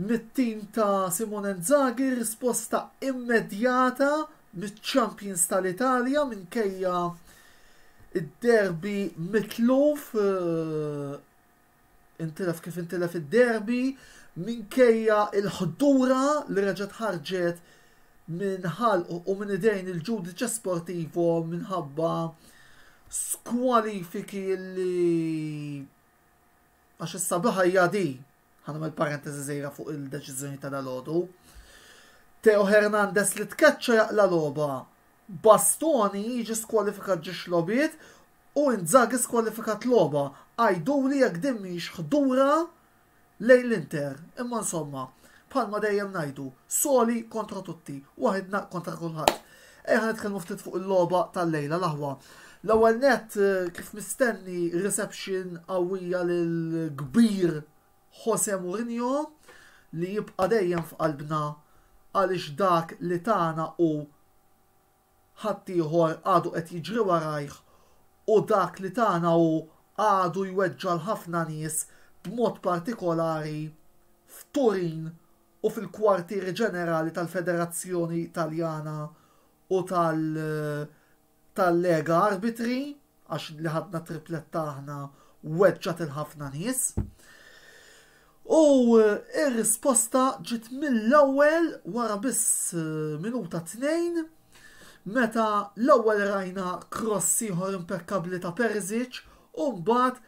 Mit-tim ta' Simone Inzaghi risposta immedjata miċ-champions tal-Italja minkejja d-derby mitluf, intilef kif intilef id-derby, minkejja l-ħdura li reġgħet ħarġet minn ħalq u minn idejn il-Giudice Sportivo minħabba skwalifiki li Għax is-sabiħa hija di, ħanagħmel parentesi żgħira fuq il-deċiżjoni ta' dalgħodu, Teo Hernandez li tkeċċa jaqla' logħba, Bastoni jiġi skwalifikat ġiex logħbiet u Inzaghi skwalifikat logħba. Għiduli jekk din mhijiex ħdura lejn l-Inter. Imma insomma, bħalma dejjem ngħidu, soli kontra tutti, waħidna kontra kulħadd. Ejja ħa nitkellmu ftit fuq il-logħba tal-lejla l-aħwa. L-ewwel nett kif mistenni reception qawwija lil kbir Jose Mourinho li jibqa' dejjem f'qalbna għaliex dak li tana u ħaddieħor għadu qed jiġri warajh u dak li tana hu għadu jweġġa' l-ħafna nies b'mod partikolari f'Turin u fil-kwartieri ġenerali tal-Federazzjoni Taljana u tal tal-Lega Arbitri, għax li ħadna t-tripletta aħna weġġgħet 'il ħafna nies. U r-risposta ġiet mill-ewwel wara biss minuta tnejn meta l-ewwel rajna kross ieħor impekkabbli ta' Perisic u mbagħad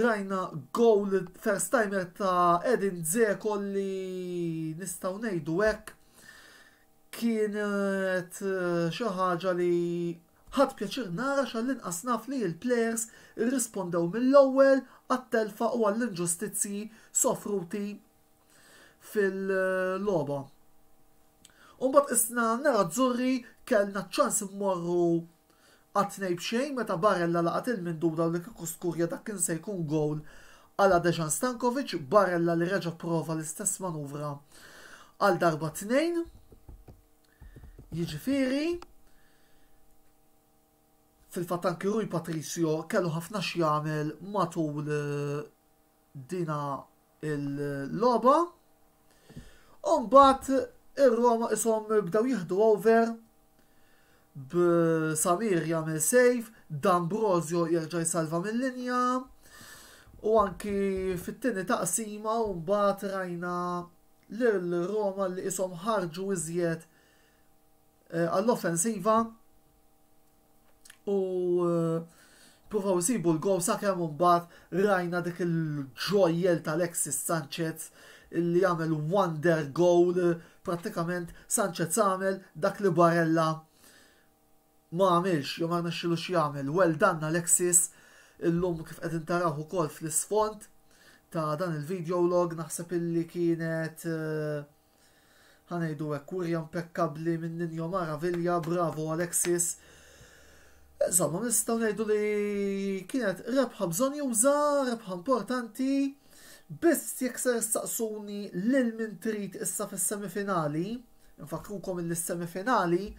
Rajna gowl first timer ta' Edin Dzeko li nistgħu ngħidu hekk kienet eh, xi ħaġa li ħadd pjaċir nara xall-inqas naf li l-plejers irrispondew mill-ewwel għat-telfa u għall-inġustizzji sofruti fil-logħba. U mbagħad isna nara Zurri kellna ċans immorru għat-tnej b'xejn meta Barella laqat il-minduda u li kieku skurja dak kien se jkun gowl għala Dejan Stankovic, Barella li reġa' prova l-istess manuvra għal darba tnejn. Jiġifieri, fil-fatt anki Rui Patricio kellu ħafna x'jagħmel matul eh, dina il-logħba. U mbagħad ir-Roma ishom bdew jieħdu over b'Samir jagħmel save, D'Ambrosio jerġa' jsalva mill-linja. U anki fit-tieni taqsima u mbagħad rajna lil Roma li ishom ħarġu iżjed eh, għall-offensiva U eh, provaw isibu l-gow sakemm mbagħad rajna dik il-ġojjel tal-Alexis Sanchez li għamel wonder goal prattikament Sanchez għamel dak li Barella ma għamilx jew ma rnexxilu jagħmel. Well done Alexis illum kif qed intaraw ukoll fl-isfond ta' dan il-video log naħseb illi kienet eh, Ħa ngħidu hekk wirja mpekkabbli minn Ninho Maravilha, bravo Alexis. Insomma, nistgħu ngħidu li kienet rebħa bżonn juża, rebħa importanti. Biss jekk ser saqsuni lil min trid issa fis-semifinali, nfakrukom il semifinali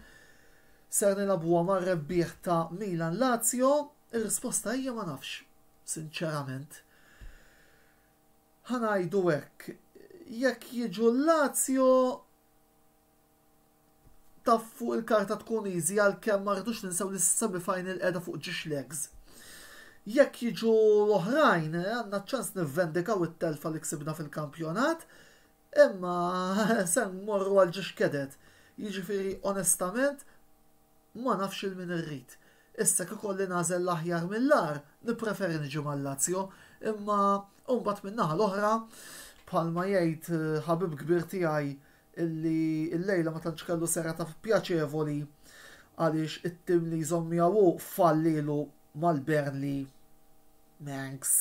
ser nilabuha mar-rebbieħ ta' Milan Lazio, ir-risposta hija ma nafx, sinċerament. ħa ngħidu hekk, jekk jiġu l-Lazio taf fuq il-karta tkun easy għalkemm ma rridux ninsew li s-semi final qiegħda fuq ġiex legs. Jekk jiġu l-oħrajn, eh, għandna ċans nivvendikaw it-telfa li ksibna fil-kampjonat, imma se morru għal ġiex kedet. Jiġifieri onestament Ma nafx 'il min irrid. Issa jekk ikolli nagħżel l-aħjar mill-agħar, nippreferi niġi mal-Lazio, imma mbagħad min-naħa l-oħra, bħalma jgħid ħabib kbir tiegħi illi llejla ma tantx kellu serata pjaċevoli għaliex it-tim li jżomm miegħu hu fallielu mal-Burnley, Mancs.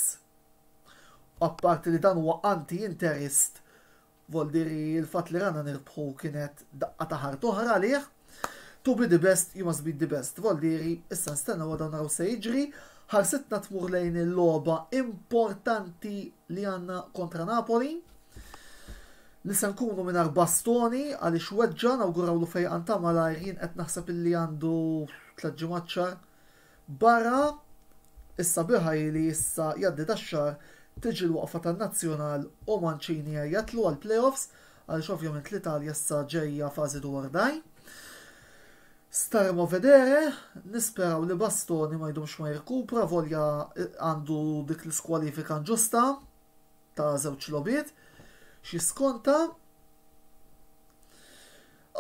Apparti li dan huwa anti-Interist Vol diri il-fatt li rana nirbħu kienet daqqa ta' ħart oħra għalih. To be the best, you must beat the best. Vol diri, issa nstennew għadha naraw se jiġri. Ħarsitna tmur lejn il-logħba importanti li għandna kontra Napoli li se nkunu mingħajr bastoni għaliex weġġa nawgurawlu fejqan ta' malajr jien qed naħseb illi għandu tliet ġimgħat xahar Barra, is-sabiħa hi li issa jgħaddi dax-xahar tiġi l-waqfa tan-Nazzjonal u Mancini ja jatlu għall-playoffs għaliex ovvjament l-Italja issa ġejja fażi dwar daj. Staremo vedere, nisperaw li Bastoni ma jdumx ma jirkupra volja għandu dik l-iskwalifika nġusta ta' żewġ logħbiet x'jiskonta.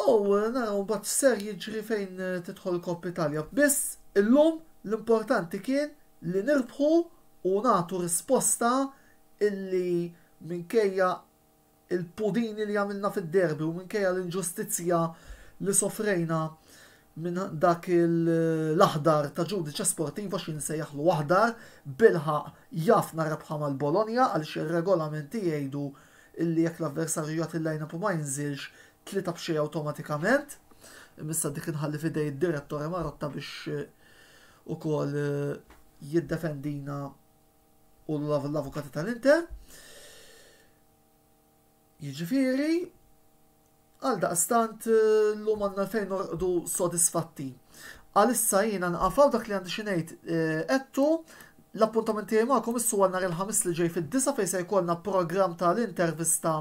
U naraw mbagħad x'ser jiġri fejn tidħol Coppa Italia. Biss illum l-importanti kien li nirbħu u nagħtu risposta illi minkejja il-pudini li għamilna fid-derby u minkejja l-inġustizzja li sofrejna minn dak l-aħdar ta' Judice Sportiva xi nsejjaħlu aħdar, bilħaqq jaf narebħha mal-Bologna għaliex ir-regolamenti jgħidu li jekk l-avversarju jagħti l-line-up u ma jinżilx, tlieta b'xejn awtomatikament. Imissa dik inħalli f'idej id-direttore Marotta biex ukoll jiddefendina u l-avukati tal-Inter. Jiġifieri, għaldaqstant llum għandna fejn norqdu sodisfatti. Għalissa jiena nqafaw dak li għandi xi ngħid eh, qedtu l-appuntament tiegħi magħkom issu għal nhar il-ħamis li ġej fid-disa fejn se jkollna programm tal-intervista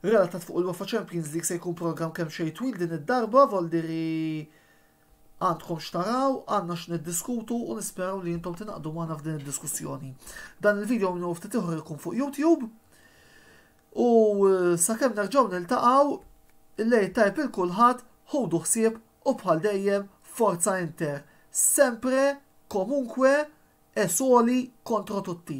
relatat fuq il-UEFA Champions League se jkun programm kemm xejn twil din id-darba voldiri Għandkom x'taraw, għandna x'niddiskutu u nisperaw li intom tingħaqdu magħna f'din id-diskussjoni. Dan il-video minn ftit ieħor ikun fuq YouTube. U eh, sakemm nerġgħu niltaqgħu, il-lejl tajb il kulħadd, ħudu ħsieb u bħal dejjem forza inter. Sempre, komunkwe, e soli kontro tutti.